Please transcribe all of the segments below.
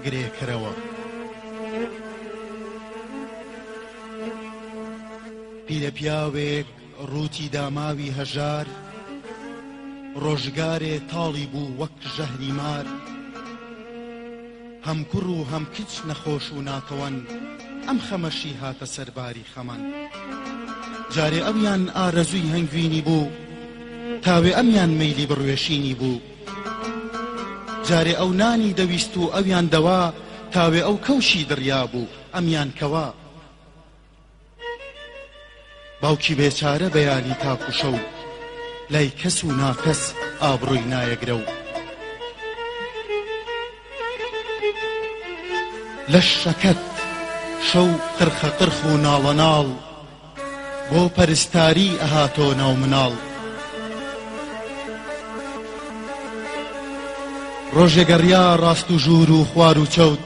گرێکەرەوە پیرە پیاوێک ڕووتی داماوی هەژار ڕۆژگارێ تاڵی بوو وەک ژەهری مار هەم کوڕ و هەم کچ نەخۆش و ناتەوەن ئەم خەمەشی هاتە سەرباری خەمان جارێ ئەویان ئارەزووی هەنگوینی بوو تاوێ ئەمیان مەیلی بڕوێشینی بوو جارێ ئەو نانی دەویست و ئەویان دەوا تاوێ ئەو کەوشی دڕیابوو ئەمیان کەوا باوکی بێچارە بەیانی تاک و شەو لای کەس و ناکەس ئابڕووی نایەگرە و لەش شەکەت شەو قرخە قرخ و ناڵەناڵ بۆ پەرستاری ئەها تۆ ناو مناڵ. ڕۆژێ گەڕیا ڕاست و ژوور و خوار و چەوت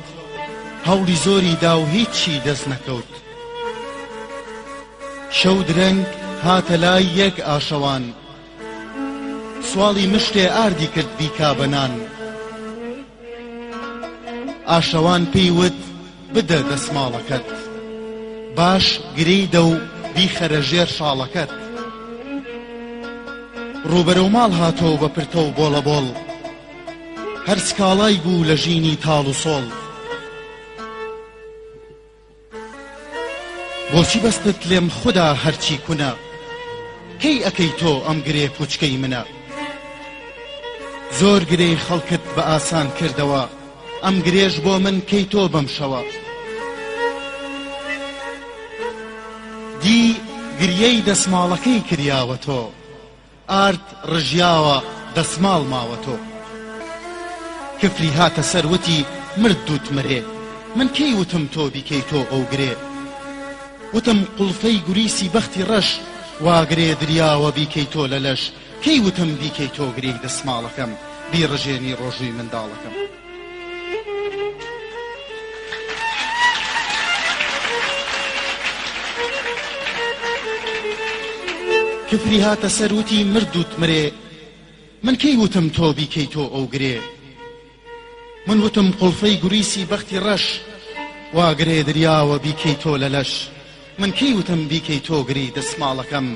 هەوڵی زۆری دا و هیچی دەست نەکەوت شەو درەنگ هاتە لای یەک ئاشەوان سواڵی مشتێ ئاردی کرد بیکا بە نان ئاشەوان پێی وت، بدە دەسماڵەکەت. باش گرێی دە و بیخەرە ژێر شاڵەکەت. ڕووبەرەو ماڵ هاتەوە بە پرتە و بۆڵەبۆڵ. هەر سکاڵای بوو لە ژینی تاڵ و سۆڵ. بۆچی بەستت لێم خودا هەرچی کونە کەی ئەکەی تۆ ئەم گرێ پوچکەی منە زۆر گرێی خەڵکت بە ئاسان کردەوە ئەم گرێش بۆ من کەی تۆ بەم شەوە دی گریەی دەسماڵەکەی کریاوە تۆ. ئارد ڕژیاوە دەسماڵ ماوە تۆ. کفری هاتە سەر وتی مرد دوت مرێ من کەی وتم تۆ بیکەی تۆ ئەو گرێ وتم قوڵفەی گوریسی بەختی ڕەش وا گرێ دریاوە بیکەی تۆ لە لەش کەی وتم بیکەی تۆ گرێی دەسماڵەکەم بیڕژێنی ڕۆژووی منداڵەکەم. کفری هاتە سەر وتی مردوت مرێ من کەی وتم تۆ بیکەی تۆ ئەو گرێ من وتم قڵفەی گوریسی بەختی ڕەش واگرێ دریاوە بیکەی تۆ لە لەش من کەی وتم بیکەی تۆگری دەسماڵەکەم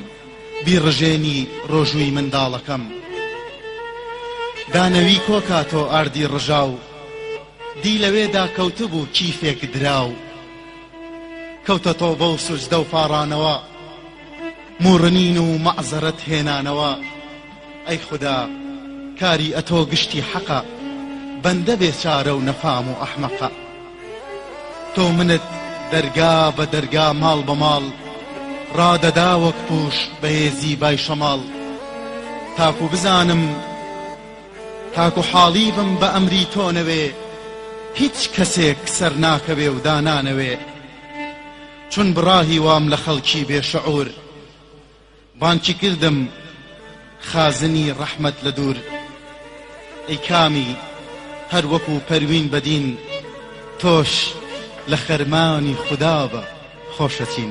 بیڕژێنی ڕۆژووی منداڵەکەم دانەوی کۆکا تۆ ئاردی ڕژاو دی لەوێدا کەوتبوو کیفێک دراو کەوتە تۆبە و سوجدە و پاڕانەوە موڕنین و مەعزەرەت هێنانەوە ئەی خودا کاری ئەتۆ گشتی حەقە بەندە بێچارە و نەفام و ئەحمەقە تۆ منت دەرگا بە دەرگا ماڵ بە ماڵ ڕادەدا وەک پووش بەهێزی بای شەماڵ تاکو بزانم تاکو حاڵی بم بە ئەمری تۆ نەوێ هیچ کەسێک سەر ناکەوێ و دانانەوێ چون بڕاهی وام لە خەڵکی بێ شعور بانکی کردم خازنی ڕەحمەت لە دوور ئەی کامی هەر وەکو پەروین بەدین تۆش لە خەرمانی خودا بە خۆشەچین